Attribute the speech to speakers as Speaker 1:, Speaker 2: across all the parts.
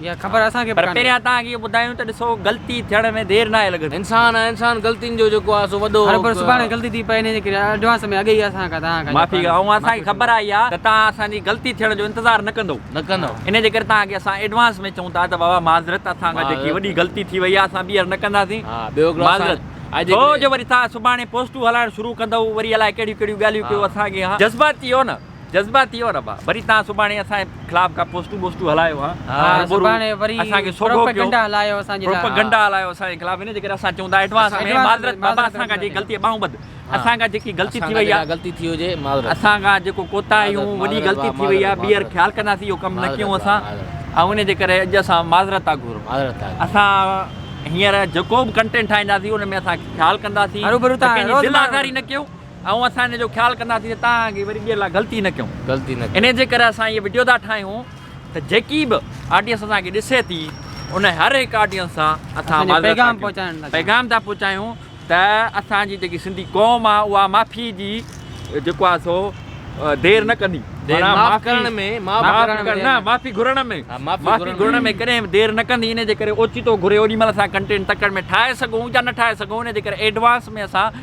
Speaker 1: پر
Speaker 2: پهريان توهان کي اهو
Speaker 1: ٻڌايون ته ڏسو غلطي ٿيڻ ۾ دير ناهي لڳندي. انسان ۽ انسان غلطين
Speaker 3: جو جيڪو آهي سو وڏو.
Speaker 2: معافي ۽ اسان کي خبر
Speaker 1: آهي اها ته توهان اسان جي غلطي ٿيڻ جو انتظار نه ڪندو. ان جي ڪري توهان کي اسان ايڊوانس ۾ چئون ٿا ته بابا معذرت اسان کان جيڪي وڏي غلطي ٿي وئي آهي اسان ٻيهر نه ڪنداسين. معذرت ڇو جو وري توهان سڀاڻي پوسٽون هلائڻ شروع ڪندؤ وري الائي ڪهڙيون ڪهڙيون ڳالهيون ڪيو اسان کي اها جذباتي اهو نه. جذباتي يو ربا وري تان سڀاڻي اسان جي خلاف ڪا پوسٽون بوسٽون هلايو ها هر ڀورو
Speaker 2: اسان کي سوگهو ڪيو
Speaker 1: پروپيگنڊا
Speaker 2: هلايو اسان جي
Speaker 1: خلاف هن جي ڪري اسان چون ٿا ايڊوانس ۾ معذرت بابا اسان کان جيڪي غلطي ٻانهون ٻڌ اسان کان جيڪي غلطي ٿي وئي آهي غلطي ٿي هجي معذرت
Speaker 3: اسان کان جيڪو
Speaker 1: ڪوتاهيون وڏي غلطي ٿي وئي آهي ٻيهر خيال ڪنداسين اهو ڪم نه ڪيون اسان ۽ ان جي ڪري اڄ اسان معذرت ٿا گهرون اسان هينئر جيڪو به ڪنٽينٽ ٺاهينداسين ان ۾ اسان خيال ڪنداسين ڪنهن جي دل آزاري نه ڪيون ۽ اسان ان جو خيال ڪنداسين ته توهان اڳي وري ٻيهر لا غلطي نه ڪيون غلطي نه ڪيون ان جي ڪري اسان هي وڊيو ٿا ٺاهيون ته جيڪي به آڊينس اسان کي ڏسي ٿي ان هر هڪ آڊينس سان اسان پنهنجو پيغام پهچائڻ ٿا پيغام ٿا پهچايون ته اسان جي جيڪي سنڌي قوم آ اها معافي جي جيڪو آ سو دير نه ڪندي معاف ڪرڻ ۾ معافي گهرڻ ۾ معافي گهرڻ ۾ ڪڏهن به دير نه ڪندي ان جي ڪري اوچتو گهري اوڏي مهل اسان ڪنٽينٽ تڪڙ ۾ ٺاهي سگهون يا نه ٺاهي سگهون ان جي ڪري ايڊوانس ۾ اسان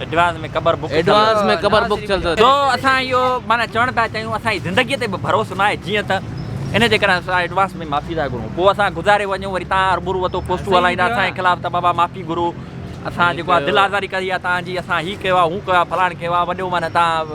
Speaker 3: ايڊوانس ۾ قبر
Speaker 1: بڪ ٿيل ايڊوانس ۾ قبر بڪ ٿيل اٿس. جو اسان اهو معنيٰ چوڻ پيا چاهيون اسان جي زندگي تي به ڀروسو نه آهي جيئن ته ان جي ڪري اسان ايڊوانس ۾ معافي ٿا گهرون پوء اسان گذاري وڃون وري تان هربرو وتو پوسٽون هلائيندا اسان جي خلاف ته بابا معافي گهرو اسان جيڪو آهي دل آزاري ڪئي آهي تان جي اسان هي ڪيو آهي هو ڪيو آهي فلاڻ ڪيو آهي وڏو معنيٰ تان